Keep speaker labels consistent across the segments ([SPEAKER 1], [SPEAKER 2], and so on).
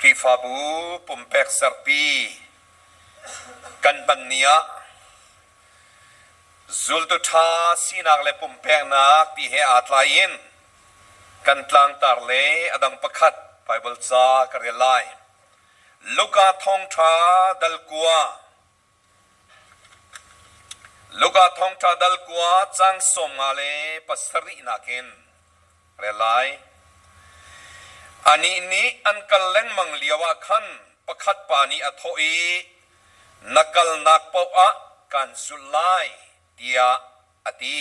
[SPEAKER 1] Khrihfabu pumpek serpi kan hmanni ah zultu ṭha sinak le pumpeknak ti he aa tlaiin kan tlangtar le a dang pakhat Baibal ca ka rel lai. Luka thawngṭha dal kua Luka thawngṭha dal kua cang sawm nga le pasarih nakin rel lai. Anih nih an kal lengmang lioah khan pakhat pa nih a thawh i, Na kalnak paoh ah kaan zulh lai, tiah a ti.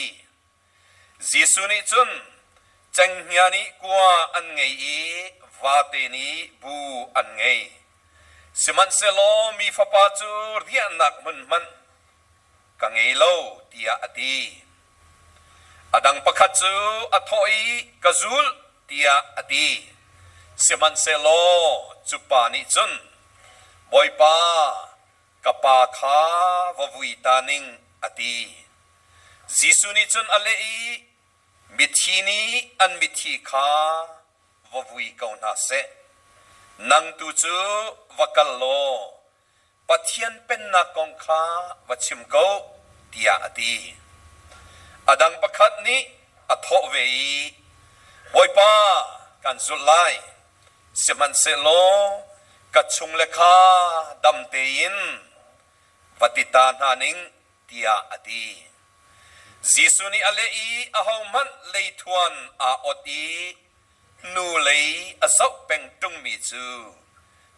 [SPEAKER 1] Jesuh nih cun cenghngia nih kua an ngei i vate nih bu an ngei. Sihmanhsehlaw mi Fapa cu riahnak hmun hmanh ka ngei lo tiah a ti. A dang pakhat cu a thawh i ka zulh tiah a ti. Sihmanhsehlaw cupa nih cun, Bawipa, ka pa kha va vui ta ning, a ti. Jesuh nih cun a leh i, Mithi nih an mithi kha va vui ko hna seh. Nang tu cu va kal law Pathian pennak kong kha va chim ko, tiah a ti. A dang pakhat nih a thawh ve i, Bawipa, kan zulh lai, Sihmanhsehlaw ka chungle kha dam tein va ti ta hna ning, tiah a ti. Jesuh nih a leh i ahohmanh leithuan aa ot i nu lei a zoh peng ṭungmi cu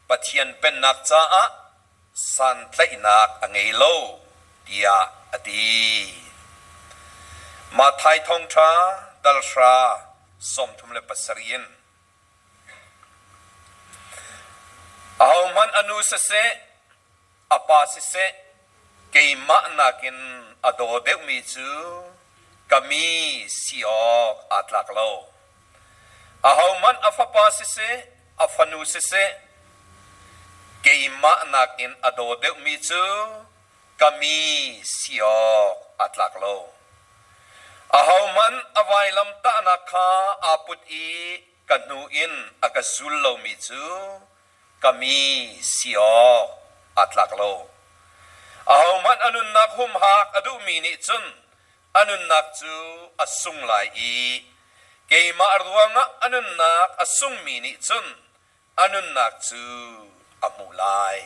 [SPEAKER 1] Pathian Pennak caah santlaihnak a ngei lo tiah a ti. Mathai thawngṭha dal hra sawmthum le pasarih in Ahohmanh a nu siseh, a pa siseh, keimah nakin a daw deuhmi cu ka mi si awk aa tlak lo. Ahohmanh a fapa siseh, a fanu siseh, keimah nakin a daw deuhmi cu ka mi si awk a tlak lo. Ahohmanh a vailamtahnak kha aa put i ka hnu in a ka zul lomi cu ka mi si awk a tlak lo. Ahohmanh a nunnak humhak a duhmi nih cun a nunnak cu a sung lai i keimah ruangah a nunnak a sungmi nih cun a nunnak cu a hmuh lai.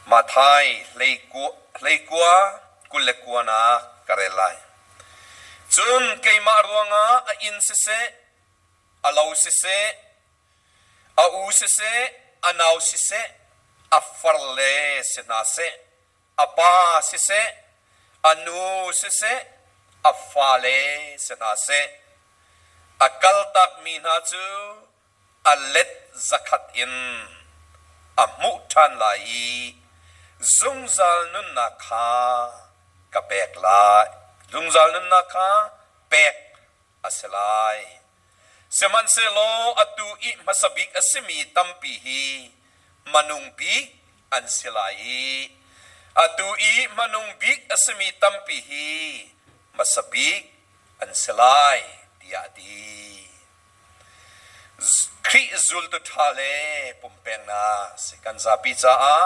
[SPEAKER 1] Matthai hleikua kul le kuanak ka rel lai. Cun keimah ruangah a inn siseh, a lo siseh, a u siseh, a nau siseh, a far le si hna seh, a pa siseh, a nu siseh, a fale si hna seh, a kaltakmi hna cu a let zakhat in a hmuh ṭhan lai i zungzal nunnak kha ka pek lai. Zungzal nunnak kha pek a si lai. Sihmanhsehlaw atu i hmasa bik a simi tampi hi manung bik an si lai i atu i hmanung bik a simi tampi hi hmasa bik an si lai, tiah a ti. Khrih zultu ṭha le pumpeknak si kan zapi caah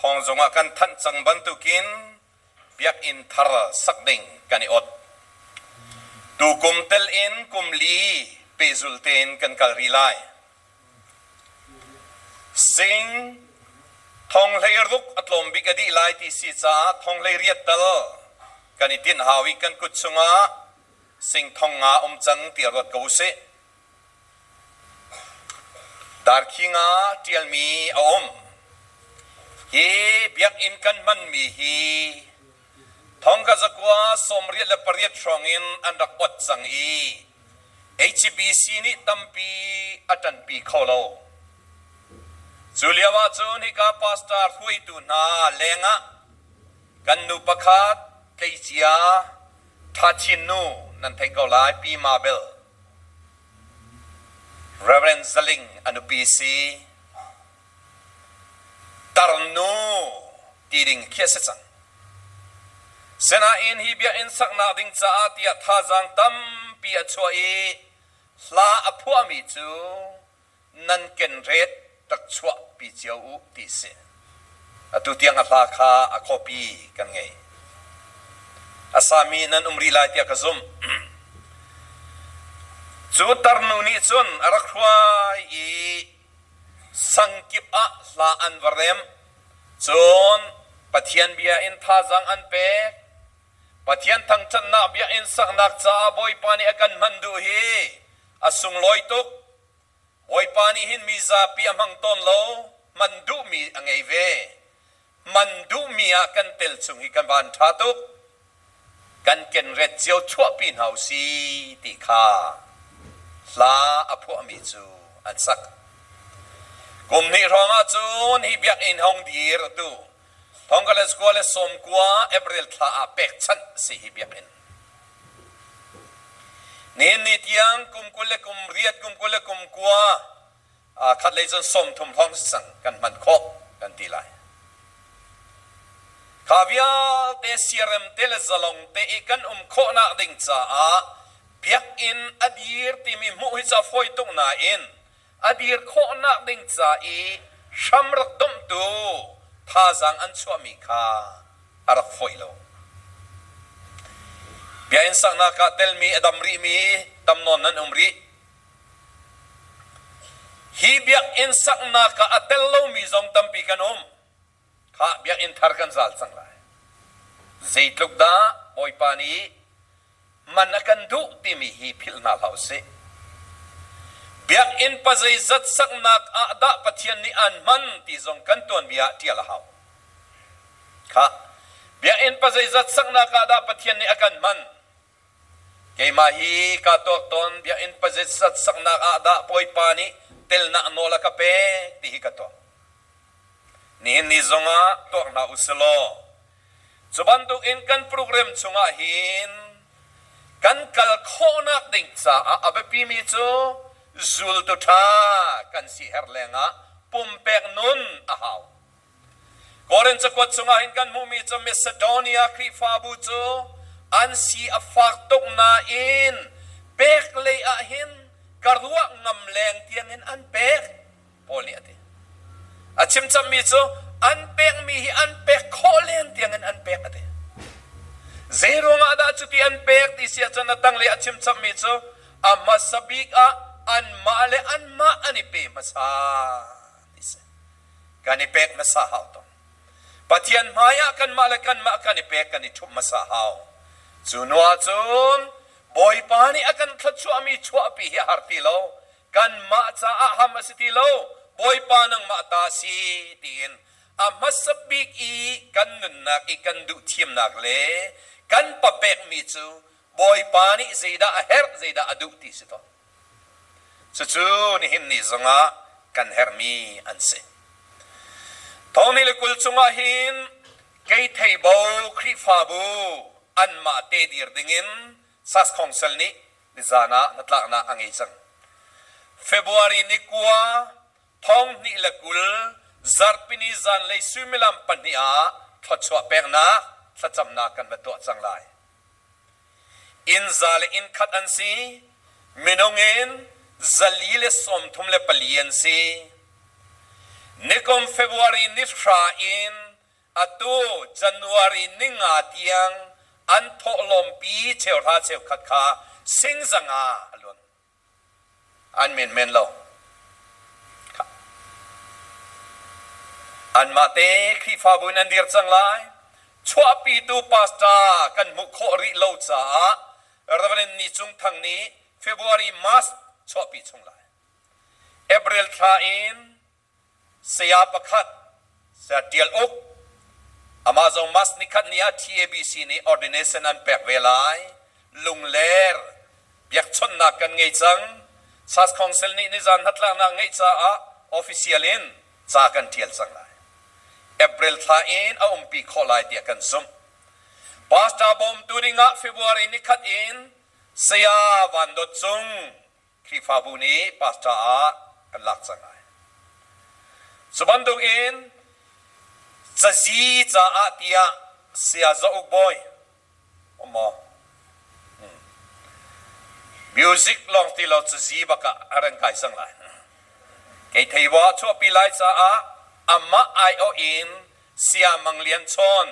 [SPEAKER 1] thawng zongah kan thanh cang bantukin biakinn thar sak ding kan i ot. Tukum tel in kum li pehzul tein kan kal rih lai. Sing thonghlei ruk a tlawm bik a dih lai ti si caah thonghlei riat tal kan i tinh hau i kan kut chungah singthong nga um cang ti ruat ko usih. Darkhing ah ṭialmi a um. Hi biakinn kan hmanmi hi thongkazakua sawmriat le pariat hrawng in an rak ot cang i HBC nih tampi a ṭanpi kho lo. Cu lio ahcun hika pastor hruaitu hna lengah kan nu pakhat tleicia ṭha chin nu nan thei ko lai Pi Ma Bel. Rev. Zaling a nupi si. Tarnu ti ding khi a si cang. Sinain hi biakinn saknak ding caah tiah thazaang tampi a chuah i hla a phuahmi cu nan kenret rak chuahpi cio u ti si. Atu tiang a hla kha a copy kan ngei. A sami nan um rih lai tiah ka zumh. Cu tarnu nih cun a rak hruai i sangkip ah hla an va rem. Cun Pathian bia in thazang an pek. Pathian thangthatnak bia in saknak caah Bawipa nih a kan hman duh hi a sunglawi tuk. Bawipa nih hin mi zapi a hmang tawn lo, hman duhmi a ngei ve. Hman duhmi ah kan tel chung hi kan van ṭha tuk. Kan kenret cio chuahpi hna u si ti kha hla a phuahmi cu an sak. Kum hnih hrawngah cun hi biakinn hung dirtu Thongkatlet kua le sawm kua April thla ah pekchanh a si hi biakinn. Nihin tiang kum kul le kum riat kum kul le kum kua aa khat lei cun sawm thum hrawng si cang kan hman khawh kan ti lai. Kha vialte siarem te le zalong te i kan um khawhnak ding caah biakinn a dir timi hmuh hi ca fawi tuk nain a dir khawhnak ding ca i hram rak domhtu thazaang an chuahmi kha a rak foih lo. Biakinn saknak ah telmi a dam rihmi tam nawn nan um rih. Hi biakinn saknak ah a tel lomi zong tampi kan um. Kha biakinn thar kan zal cang lai. Zeitluk dah Bawipa nih man a kan duh timi hi philh hna hlah u sih. Biakinn pa zeizat saknak ah dah Pathian nih an hman ti zong kan tuanvi ah ṭial a hau. Kha biakinn pa zeizat saknak ah dah Pathian nih a kan hman Keimah hi kaa tuak tawn biakinn pazitsat saknak ah dah Bawipa nih telnak nawl a ka pek ti hi ka tuak. Nihin ni zongah tuak hna u si law cu bantukin kan program chungah hin kan kal khawhnak ding caah a biapimi cu zultu ṭha kan si her lengah pumpek nun a hau. Korin cakuat chungah hin kan hmuhmi cu Macedonia Khrihfabu cu an si a fak tuk nain pek lei ah hin ka ruah ngam leng tiang in an pek. Paul nih a ti. A chim cangmi cu an pekmi hi an pek khawh len tiang in an pek a ti. Zei ruangah dah cuti an pek ti si ahcun a tanglei a chim cangmi cu a hmasa bik ah anmah le anmah an i pe hmasa ti si. kan i pek hmasa hau tuk. Pathian hmaiah kanmah le kanmah kan i pek kan i ṭhumh hmasa hau. Cu nuah cun Bawipa nih a kan thluachuahmi chuahpi hi a har ti lo. Kanmah caah ham a si ti lo. Bawipa nangmah ta si tiin a hmasa bik i kan nunnak i kan duh thiamnak le kan papekmi cu Bawipa nih zeidah a herh, zeidah a duh ti si tawn. Cucu nihin ni zongah kan herhmi an si. Thawni le kul chungah hin kei theibo Khrihfabu anmah te dir dingin SAS Council nih nizan ah hnatlaknak a ngei cang. February ni kua thonghnih le kul zarhpini zanlei suimilam pahnih ah thluachuah peknak thlacamnak kan va tuah cang lai. inn za le inn khat an si. Minung in zali le sawmthum le pali an si. Nikum February ni hra in atu January ni nga tiang an thawhlawmpi cheuhra cheukhat kha singzang ah a luan. Anmah te Khrihfabu in an dir cang lai. Chuahpitu pastor kan hmuh khawh rih lo caah Reverend Ni Cung Thang nih February March chuahpi chung lai. April thla in Saya pakhat, saya ṭial uk, amah zong Mask nikhat ni ah TABC nih ordination an pek ve lai. Lungler biakchawnhnak kan ngei cang. SAS Council nih nizan hnatlaknak ngeih caah official in ca kan ṭial cang lai. April thla in a umpi khawh lai tiah kan zumh. Pastor bawmtu dingah February nikhat in Saya Van Dawt Cung Khrihfabu nih pastor ah kan lak cang lai. Cu bantuk in cazi caah tiah saya Za Uk Bawi um maw? Hmm. Music lawng ti lo cazi bak ah a ran kai cang lai. Kei thei wa chuahpi lai caah amah aiawh in saya Mang Lian Chawn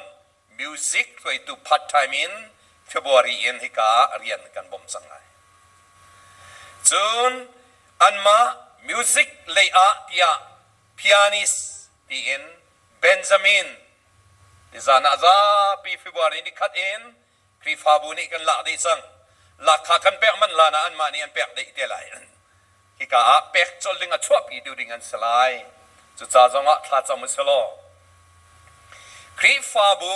[SPEAKER 1] music hruaitu part time in February in hika ah rian kan bawmh cang lai. Cun anmah music lei ah tiah pianist tiin Benjamin nizan ah zapi February ni khat in Khrihfabu nih kan lak dih cang. Lahkhah kan pek manh hlan ah anmah nih an pek dih te lai. Hika ah pek colh ding a chuahpitu ding an si lai. Cucaah zong ah thla cam u si law, Khrihfabu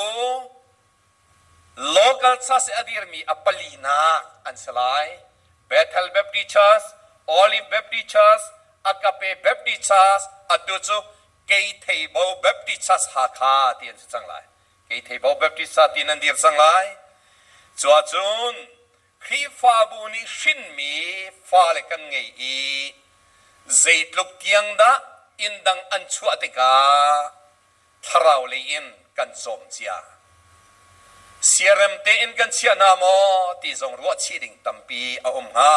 [SPEAKER 1] local church i a dirmi a palinak an si lai. Bethel Baptist Church, Olive Baptist Church, Agape Baptist Church, atu cu Keitheibo Baptist Church Hakha ti an si cang lai. Kei Theipau Baptist ca ti nan dir cang lai. Cu ahcun Khrihfabu nih hrinmi fale kan ngei i zeitluk tiang dah inn dang an chuah tikah thlarau lei in kan cawm cia. Siarem tein kan chiah hna maw ti zong ruah chih ding tampi a um hnga.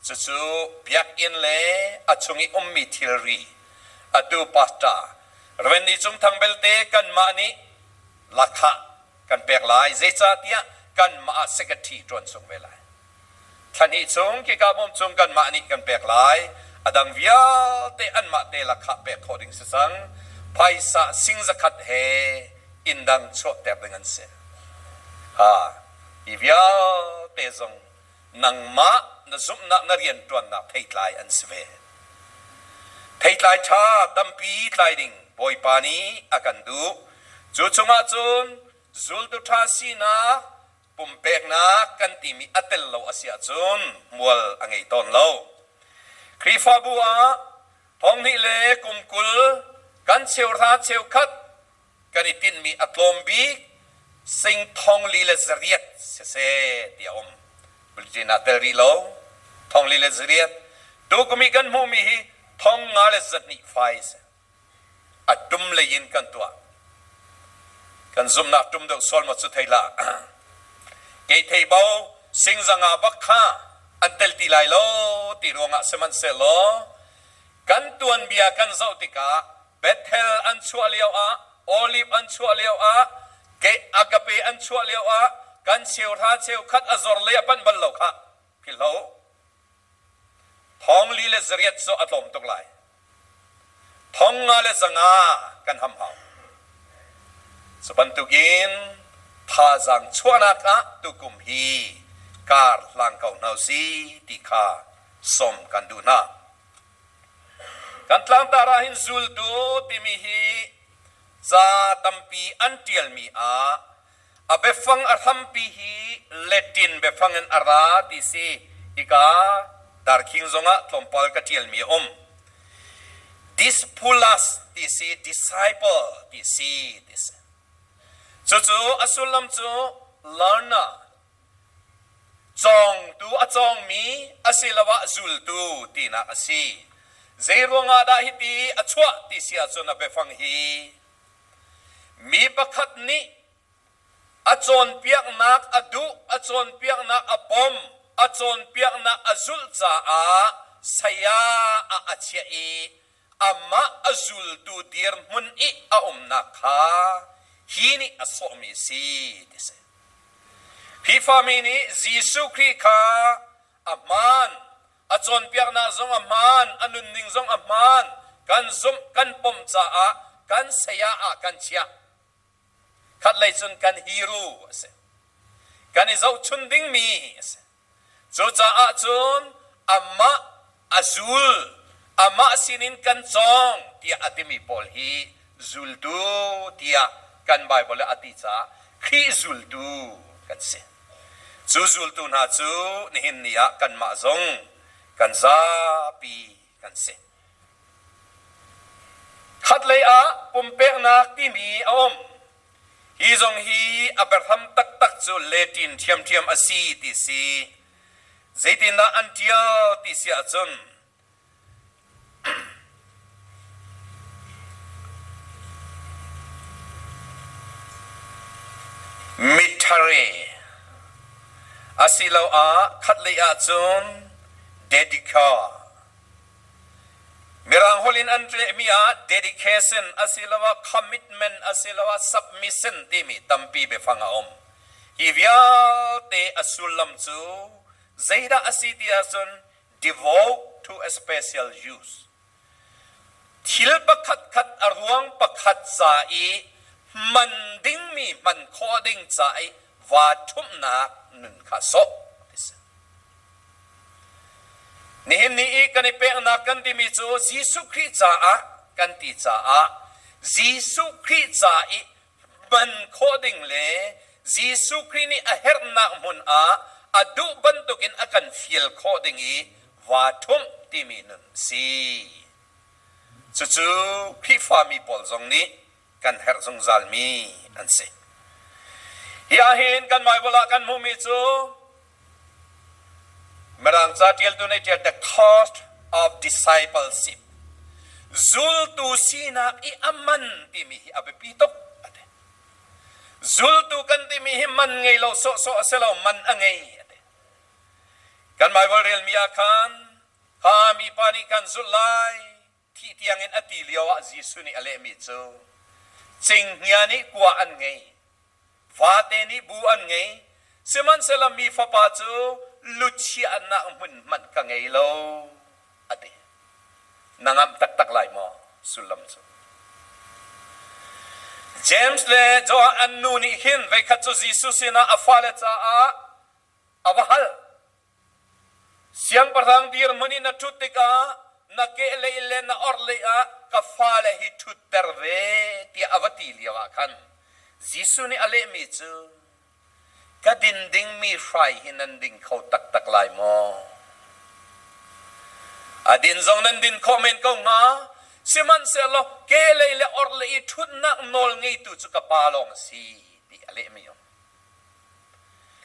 [SPEAKER 1] Cucu biakinn le a chung i ummi thilri, atu pastor Reverend Licung Thang belte kanmah nih lahkhah kan pek lai, zeicahtiah kanmah secretary ṭuan chung ve lai. Thlahnih chung kikabawm cung kanmah nih kan pek lai, a dang vialte anmah te lahkhah pek khawh ding si cang, phaisa sing zakhat he inn dang chuahter ding an si. Ha, hi vialte zong nangmah na zumhnak na rianṭuannak theitlai an si ve. Theitlai ṭha tampi tlai ding Bawipa nih a kan duh. Cu chungah cun zultu ṭha sinak pumpeknak kan timi a tel lo a si ahcun hmual a ngei tawn lo. Khrihfabu ah thong hnih le kum kul kan cheuhra cheukhat kan i tinhmi a tlawm bik singthong li le zariat siseh ti a um. Bulletin ah tel rih lo. Thong li le zariat. Tu kum i kan hmuhmi hi thong nga le zahnih fai a si. A dum lei in kan tuah. Kan zumnak tum deuh sual ma cu thei la. Kei thei bo singzanga bak kha an tel ti lai lo ti ruangah sihmanhsehlaw Kan tuanbia kan zoh tikah Bethel an chuah lioah, Oliv an chuah lioah, Agape an chuah lioah kan cheuhra cheukhat a zor lei a panh bal lo kha philhlo. Thong li le zariat cu a tlawm tuk lai. Thong nga le zanga kan ham hau. Cu bantukin thazaang chuahnak ah tukum hi kar hlang ko hna u si ti kha sawm kan duh hna. Kan tlangtar ah hin zultu timi hi ca tampi an ṭialmi ah a biafang a hrampi hi Latin biafang in a ra ti si. Hika darkhing zongah tlawmpal ka ṭialmi a um. Dispulas ti si, disciple ti si, ti si. Cucu a sullam cu learner Cawngtu a cawngmi asiloah zultu tinak a si. Zeiruangah dah hiti a chuah ti si ahcun a biafang hi mi pakhat nih a cawnpiaknak a duh, a cawnpiaknak a bawmh, a cawnpiaknak a zulh caah saya ah a chiah i amah a zultu dirhmun i a umnak kha hi nih a sawhmi a si ti si. Hi fami nih Jesuh Khrih kha a hmaan, a cawnpiaknak zong a hmaan, a nunning zong a hmaan, kan zumh, kan pom caah kan saya ah kan chiah Khatlei cun kan hiru a si. Kan i zohchun dingmi a si. Cucaah cun amah a zul, amah sinin kan cawng tiah a timi pawl hi zultu tiah kan Baibal ah a ti caah Khrih zultu kan si. Cu zultu hna cu nihin ni ah kanmah zong kan zapi kan si. Khatlei ah pumpeknak timi a um. Hi zong hi a biahram taktak cu Latin ṭhiamṭhiam a si ti si. Zeitindah an ṭial ti si ahcun mittari asiloah khatlei ah cun Dedica Mirang holh in an ṭehmi ah dedication asiloah commitment asiloah submission timi tampi biafang a um. Hi vialte a sullam cu zeidah a si ti ahcun devote to a special use. Thil pakhatkhat a ruang pakhat ca i hman dingmi hman khawh ding ca i vaaṭhumhnak nun kha sawh a ti si. Nihin ni i kan i peknak kan timi cu Jesuh Khrih caah kan ti caah Jesuh Khrih ca i hman khawh ding le Jesuh Khrih nih a herhnak hmun ah a duh bantukin a kan fial khawh ding i vaa ṭhumh timi nun a si. Cucu Khrihfami pawl zong nih kan herh zungzalmi an si. Hi ahhin kan Baibal ah kan hmuhmi cu Mirang ca ṭialtu nih ṭial the cost of discipleship zultu sinak i a man timi hi a biapi tuk a ti. Zultu kan timi hi man ngei lo sawhsawh a si lo, man a ngei a ti. Kan Baibal relmi ah khan kha mipa nih kan zulh lai Thih tiangin a ti lioah Jesuh nih a lehmi cu, Cinghngia nih kua an ngei, vate nih bu an ngei, sihmanhsehlaw mi Fapa cu luchiahnak hmun hmanh ka ngei lo, a ti. Na ngamh taktak lai maw sullam cu? James le Johan an nu nih hin voikhat cu Jesuh sinah a fale caah a va hal. Siangpahrang dirhmun i na ṭhut tikah na kehlei le na orhlei ah ka fale hi ṭhutter ve tiah a va ti lioah khan Jesuh nih a lehmi cu, Ka din dingmi hrai hi nan ding kho taktak lai maw? A din zong nan din khawh men ko hnga. Sihmanhsehlaw kehlei le orhlei i ṭhutnak nawl ngeitu cu ka Pa lawng a si, ti a lehmi um.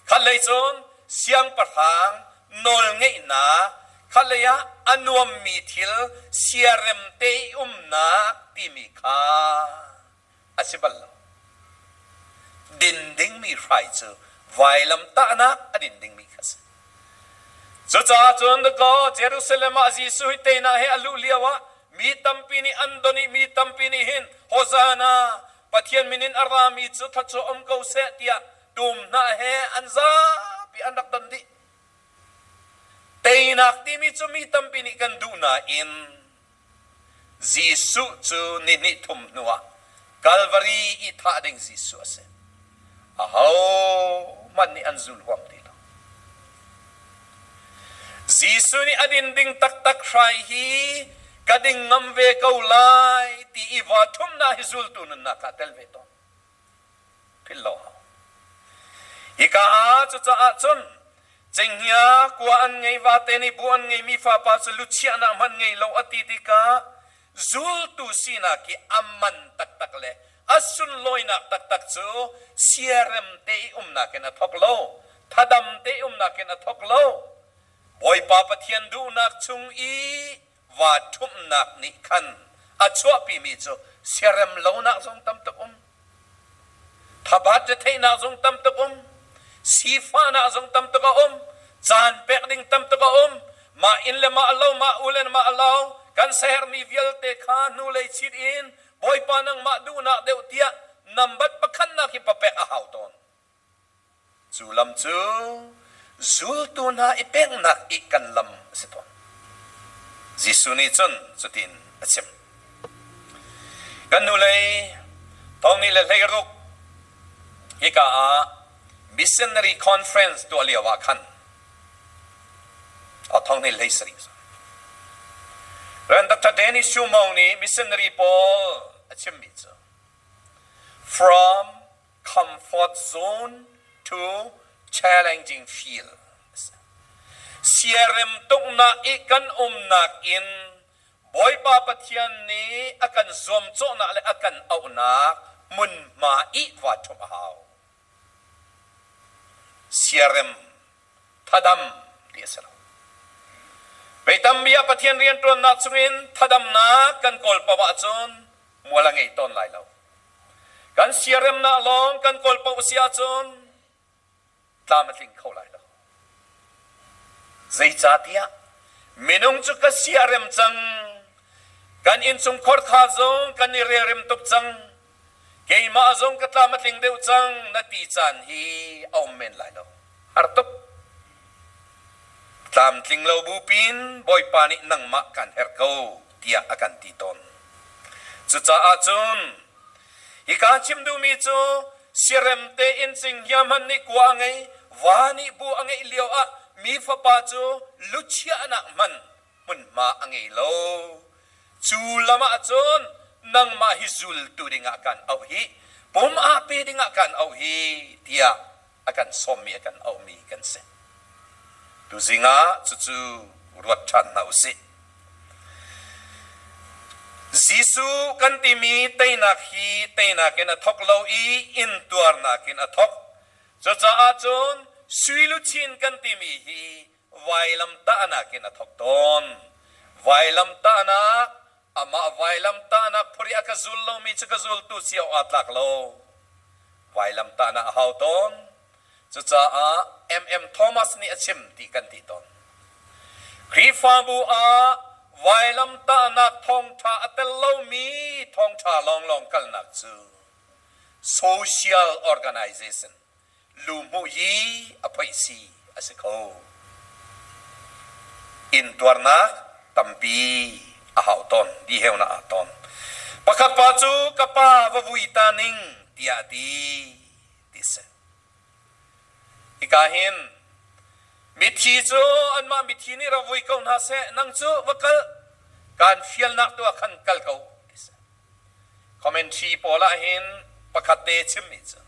[SPEAKER 1] Khatlei cun siangpahrang nawlngeihnak, khatlei ah a nuammi thil siarem te i umnak timi kha a si bal lo. Din dingmi hrai cu vailamtahnak a din dingmi kha a si. Cucaah cun dakaw Jerusalem ah Jesuh hi teinak he a luh lio ah mi tampi nih an don i mi tampi nih hin Hosana Pathian min in a rami cu thluachuah um ko seh tiah dumhnah he an zapi an rak don dih. Teinak timi cu mi tampi nih kan duh nain Jesuh cu ni hnih thum hnuah Kalvari i thah ding Jesuh a si. ahohmanh nih an zul huam ti lo. Jesuh nih a din ding taktak hrai hi ka ding ngam ve ko lai ti i va thumnak hi zultu nunnak ah tel ve tawn. Philh lo hau. Hika ah cucaah cun cenghngia kua an ngei va te nih bu an ngei mi fa pa cu luchiahnak hmanh ngei lo a ti tikah zultu sinak i a man taktak le a sunlawinak taktak cu siarem te i umnak in a thawk lo, thadam te i umnak in a thawk lo. Bawipa Pathian duhnak chung i vaa ṭhumhnak nih khan a chuahpimi cu siarem lonak zong tam tuk um. Thabat cu theihnak zung tam tuk um, sifahnak zung tam tuk a um, caan pek ding tam tuk a um. Mah inn le mah lo, mah u le mah lo kan sehermi vialte kha hnulei chit in Bawipa nangmah duhnak deuh tiah nambat pakhatnak hi papek a hau tawn. Cu lam cu zultu hna i peknak i kan lam a si tawn. Jesuh nih cun cutin a chim. Kan hnulei thongnih le hleiruk hika ah Missionary Conference tuah lio ah khan a thongnih hlei sarih. Renata Dennis Shumo nih missionary pawl a chimmi cu from comfort zone to challenging feel siarem tuknak i kan umnak in Bawipa Pathian nih a kan zuamcawhnak le a kan auhnak hmunhma i va ṭhumh a hau siarem thadam ti a si lo vei tambi ah Pathian rianṭuannak chungin thadamnak kan kawl paoh ahcun mual a ngei tawn lai lo. Kan siaremnak lawng kan kawl paoh a si ahcun tlam a tling kho lai lo. Zeicahtiah minung cu ka siarem cang. Kan innchungkhar kha zong kan i relrem tuk cang. Keimah zong ka tlam a tling deuh cang na ti caan hi a um men lai lo. Artuk! Tlamtlinglo bupin Bawipa nih nangmah kan herh ko tiah a kan ti tawn. Cucaah cun hika chim duhmi cu siarem tein cinghngia hmanh nih kua a ngei, va nih bu a ngeih lio ah mi fapa cu luchiahnak hmanh hmunhma a ngei lo. Cu lam ah cun nangmah hi zultu dingah kan auh hi, pum ah pe dingah kan auh hi tiah a kan sawmmi, a kan auhmi kan si. Tuzing ah cucu ruat ṭhan hna u sih. Jesuh kan timi teinak hi teinak in a thawk lo i intuarnak in a thawk. Cucaah cun sui luchin kan timi hi vailamtahnak in a thawk tawn. Vailamtahnak, Amah vailamtahnak phur i a ka zul lomi cu ka zultu si awk aa tlak lo. Vailamtahnak a hau tawn. Cucaah MM Thomas nih a chim ti kan ti tawn. Khrihfabu ah vailamtahnak thawngṭha a tel lomi thawngṭha lawnglawng kalnak cu social organization lu hmuh hi a phoihsi a si kho. Intuarnak tampi a hau tawn, diheunak ah tawn. Pakhat pa cu ka pa va vui ta ning tiah a ti ti si. Hika hin mithi cu anmah mithi nih ra vui ko hna seh nang cu va kal kan fialnak tu ah khan kal ko ti si. Commentary pawl ahhin pakhat te chimmi cu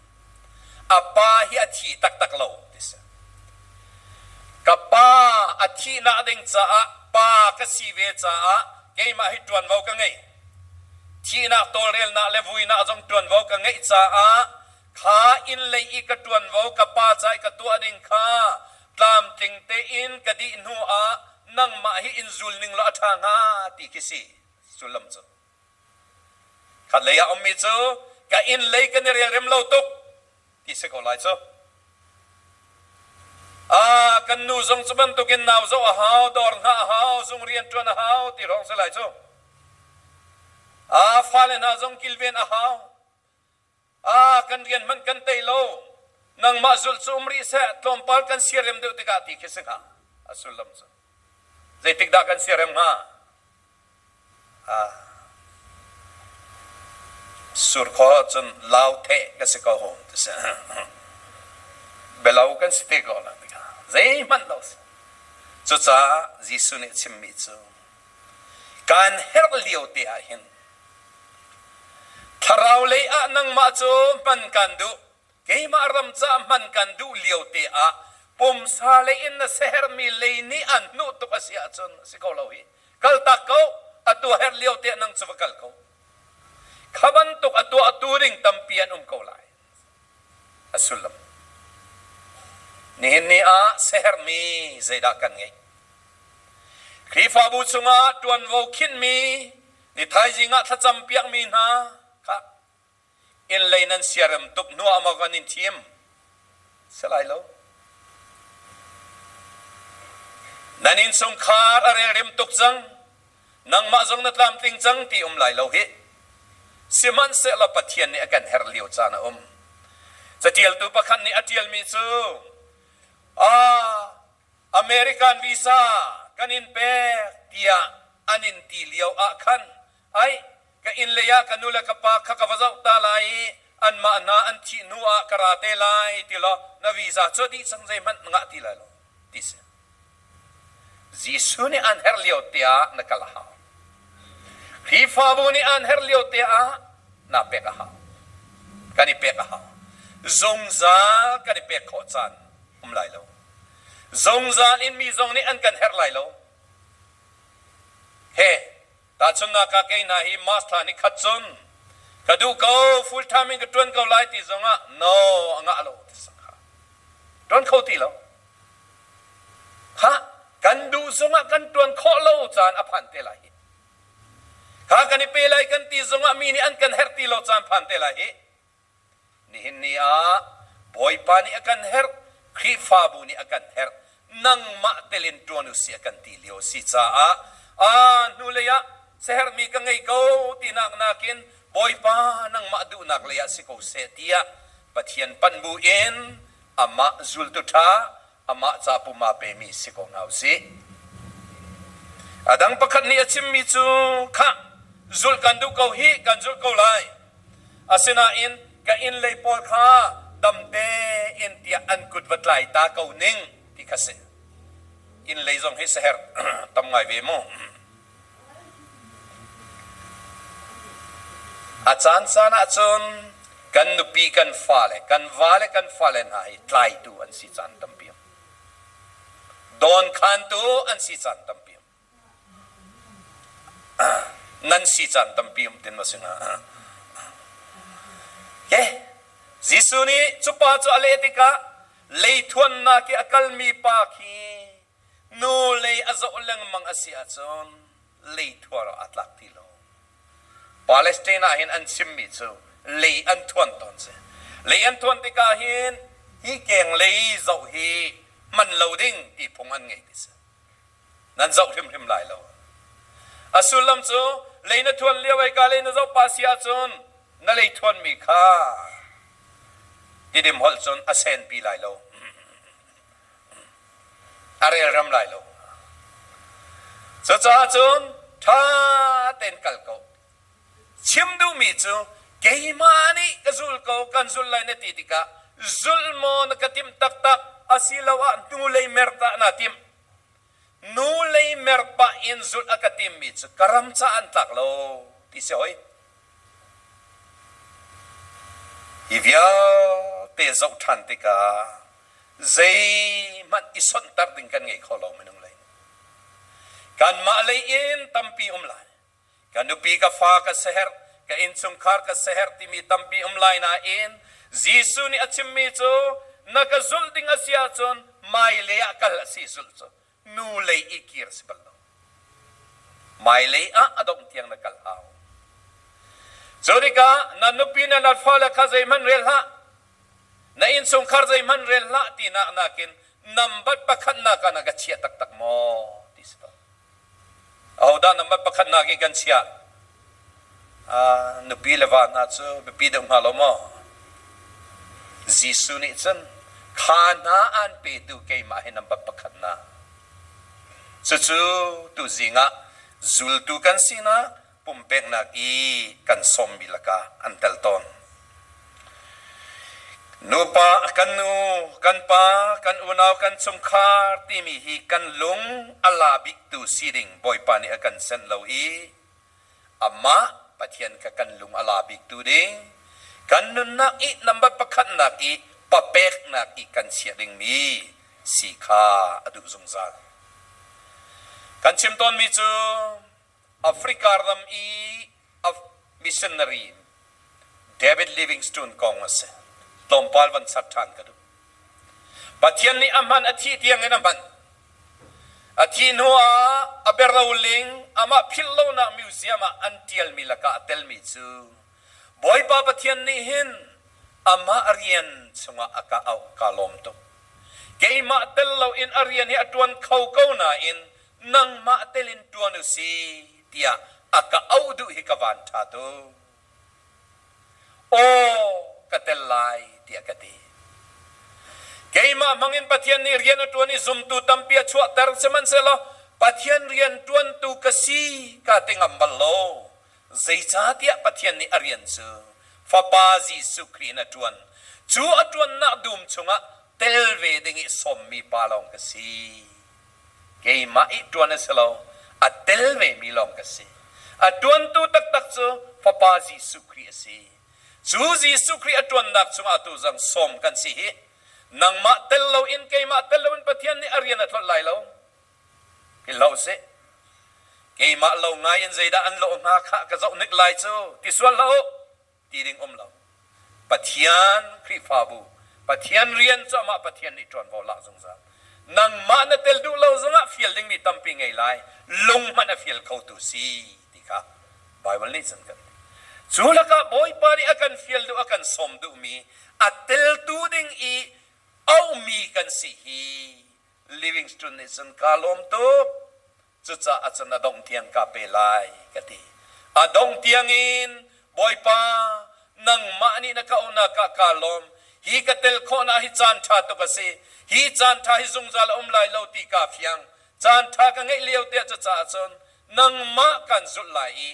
[SPEAKER 1] a pa hi a thi taktak lo ti si. Ka pa a thihnak ding caah pa ka si ve caah keimah hi ṭuanvo ka ngei. Thihnak tawlrelnak le vuinak zong ṭuanvo ka ngeih caah kha inn lei i ka ṭuanvo ka pa ca i ka tuah ding kha tlamtling tein ka dih hnu ah nangmah hi in zul ning law a ṭha hnga ti khi si. Sullam cu khatlei ah a ummi cu ka inn lei kan i rialrem lo tuk ti si ko lai cu. Ah, kan nu zong cu bantukin nau zoh a hau, dawr hngah a hau, zung rian ṭuan a hau ti hrawng si lai cu. Ah, fale hna zong kilven a hau. kan rian hmanh kan tei lo, nangmah zulh cu um rih seh, tlawmpal kan siarem deuh tikah ti khi si hnga, a sullam cu. Zeitik dah kan siarem hnga? Surkhua ah cun lau theh kan si ko hom ti si. Belau kan si te ko lang tikah zeihmanh lo si. Cucaah Jesuh nih a chimmi cu kan herh lio te ah hin Thlarau lei ah nangmah cu hman kan duh. Keimah ram caah hman kan duh lio te ah pumsa lei in na siaherhmi lei nih an hnuh tuk a si ahcun a si ko lo hi. Kaltak ko, atu a herh lio te ah nang cu va kal ko. Kha bantuk a tuahtu ding tampi an um ko lai. Nihin ni ah sahermi zeidah kan ngeih? Khrihfabu chungah ṭuanvo khinhmi ni thaizing ah thlacam piakmi hna kha innlei nan siarem tuk hnuah maw kan in thim? Si lai lo. Nan innchungkhar a relrem tuk cang. nangmah zong na tlamtling cang ti um lai lo hih. Sihmanhsehlaw Pathian nih a kan herh lio caan a um. Caṭialtu pakhat nih a ṭialmi cu, Ah, American visa kan in pek tiah an in ti lio ah khan, ai, Ka innlei ah ka nu le ka pa kha ka va zoh ta lai i anmah hna an thih hnu ah ka ra te lai ti law na visa cu a dih cang zeihmanh na ngah ti lai lo ti si. Jesuh nih aan herh lio teah na kal a hau. Khrihfabu nih aan herh lio teah naa pek a hau. Kan i pek a hau. Zungzal kan i pek khawh caan um lai lo. Zungzal in mi zong nih an kan herh lai lo. He, Tahchunhnak ah kei hna hi mask thla nikhat cun ka duh ko full time in ka ṭuan ko lai ti zongah no a ngah lo ti sang kha ṭuan kho ti lo. Ha kan duh zongah kan ṭuan khawh lo caan a phan te lai hi. Kha kan i pe lai kan ti zongah mi nih an kan herh ti lo caan phan te lai hi Nihin ni ah Bawipa nih a kan herh, Khrihfabu nih a kan herh, nangmah telin ṭuan u sih a kan ti lio a si caah aa hnulei ah siaherhmi ka ngei ko tinak nakin Bawipa nangmah duhnak lei ah si ko seh tiah Pathian panh buin amah zultu ṭha amah ca pum aa pemi si ko hna usih. A dang pakhat nih a chimmi cu, khah, zulh kan duh ko hi kan zulh ko lai. Asinain ka innlei pawl kha dam tein tiah an kut va tlai ta ko ning ti kha si. Innlei zong hi saherh tam ngai ve mu. A caancaan ahcun kan nupi, kan fale, kan va le kan fale hna hi tlaitu an si caan tampi a um. Dawnkhantu an si caan tampi a um. nan si caan tampi um tin ma si hnga. Okay. Jesuh nih cupa cu a leh tikah leithuannak i a kalmi pa khi Hnulei a zoh lengmang a si ahcun leithuar ah a tlak ti lo. Palestine ah hin an chimmi cu lei an thuan tawn si. Lei an thuan tikah hin hi keng lei zoh hi hman lo ding ti phung an ngei ti si. Nan zoh hrimhrim lai lo. A sullam cu lei na thuan lio i ka lei na zoh pa si ahcun na lei thuanmi kha tidim holh cun a senpi lai lo. a relrem lai lo. Cucaah cun ṭha tein kal ko. Chim duhmi cu keimah nih ka zul ko kan zul lai na ti tikah zulh maw na ka timh taktak asiloah hnulei mer dah naa timh? Nu lei mer pah in zulh a ka timmi cu ka ram caah an tlak lo ti si hoi. Hi vialte zoh ṭhan tikah zeihmanh i sawnhter ding kan ngei kho lo minung lei nih. Kanmah lei in tampi um lai. Ka nupi, ka fa ka siaherh, ka innchungkhar ka siaherh timi tampi um lai nain Jesuh nih a chimmi cu na ka zulh ding a si ahcun hmailei ah kal a si zulh cu nu lei i kir a si bal lo. Hmailei ah a dongh tiang na kal hau. Cu tikah na nupi na na fale kha zeihmanh rel hlah, na innchungkhar zeihmanh rel hlah tinak nakin nambat pakhatnak ah na ka chiah taktak maw? ti si to. Ahodah nambat pakhatnak i kan chiah? nupi le va hna cu biapi deuh hnga lo maw? Jesuh nih cun kha hna an petu keimah hi nambat pakhatnak. Cucu tu zingah zultu kan sinak pumpeknak i kan sawmmi lakah an tel tawn. Nupa, kan nu, kan pa, kan unau, kan chungkhar timi hi kan lung a la biktu si ding Bawipa nih a kan senh lo i amah Pathian kha kan lung a la biktu ding kan nunnak i nambat pakhatnak i papeknak i kan chiah dingmi si kha a duh zungzal. Kan chim tawnmi cu Africa ram i a missionary in David Livingstone kong a si. Tlawmpal van ser ṭhan ka duh. Pathian nih a hman a thih tiang in a hman. A thih hnuah a berloling amah philhlonak museum ah an ṭialmi lakah a telmi cu Bawipa Pathian nih hin amah rian chungah a ka auh kaa lawm tuk. Keimah tel loin a rian hi a ṭuan kho ko nain nangmah telin ṭuan u sih tiah a ka auh duh hi ka van ṭha tuk. Aw, ka tel lai tiah ka ti. Keimah hmangin Pathian nih rian a ṭuan i zumtu tampi a chuahter, sihmanhsehlaw Pathian rian ṭuantu ka si kaa ti ngam bal lo. Zeicahtiah Pathian nih a rian cu Fapa Jesuh Khrih in a ṭuan. Cu a ṭuannak dum chungah tel ve ding i sawmmi pa lawng ka si keimah i ṭuan a si lo, a tel vemi lawng ka si. A ṭuantu taktak cu Fapa Jesuh Khrih a si. Cu Jesuh Khrih a ṭuannak chungah atu zang sawm kan si hih. Nangmah tel loin keimah tel loin Pathian nih a rian a tlolh lai lo ti hlah u sih. Keimah lo ngai in zeidah an lawh hna kha ka zoh hnik lai cu ti sual hlah u. ti ding um lo. Pathian Khrihfabu, Pathian rian cu amah Pathian nih ṭuanvo lak zungzal. Nangmah na tel duh lo zongah fial dingmi tampi ngei lai, lung hmanh a fial khotu si ti kha Baibal nih cun kan ti. Cu lakah Bawipa nih a kan fial duh, a kan sawm duhmi, a teltu ding i auhmi kan si hi Livingstone nih cun kaa lawm tuk. Cucaah cun a dongh tiang kaa pe lai, ka ti. A dongh tiangin, Bawipa, nangmah nih na ka auhnak ah kaa lawm. Hi ka telh khawhnak hi caan ṭha tuk a si. Hi caan ṭha hi zungzal a um lai lo ti kaa fiang. Caan ṭha ka ngeih lio te ah cucaah cun nangmah kaan zulh lai i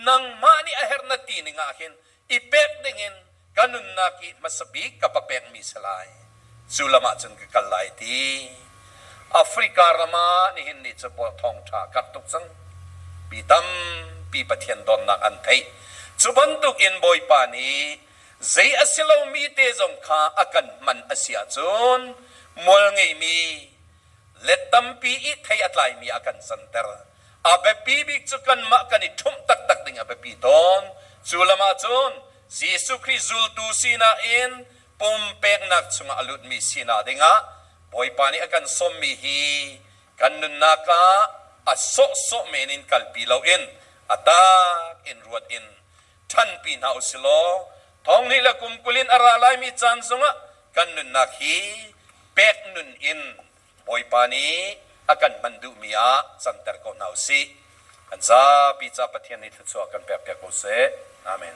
[SPEAKER 1] nangmah nih a herh na ti ning ah hin i pek dingin ka nunnak i hmasa bik ka va pekmi si lai, cu lam ah cun ka kal lai ti Africa ram ah nihin ni cu thawngṭha karh tuk cang. Mi tampi Pathian dawtnak an theih. Cu bantukin Bawipa nih zei a si lomi te zong kha a kan hman a si ahcun mual ngeimi le tampi i thei a tlaimi a kan santer. A biapi bik cu kanmah kan i ṭhumh taktak ding a biapi tawn. Cu lam ahcun Jesuh Khrih zultu sinak in pumpeknak chungah a lutmi sinak dingah Bawipa nih a kan sawmmi hi kan nunnak ah a sawhsawh men in kalpi loin a tak in ruat in ṭhanpi hna u silaw thonghnih le kum kul in a ra laimi caan zongah kan nunnak hi pek nun in Bawipa nih a kan manh duhmi ah canter ko hna u sih. Kan zapi ca Pathian nih thluachuah kan pekpiak ko seh. Amen.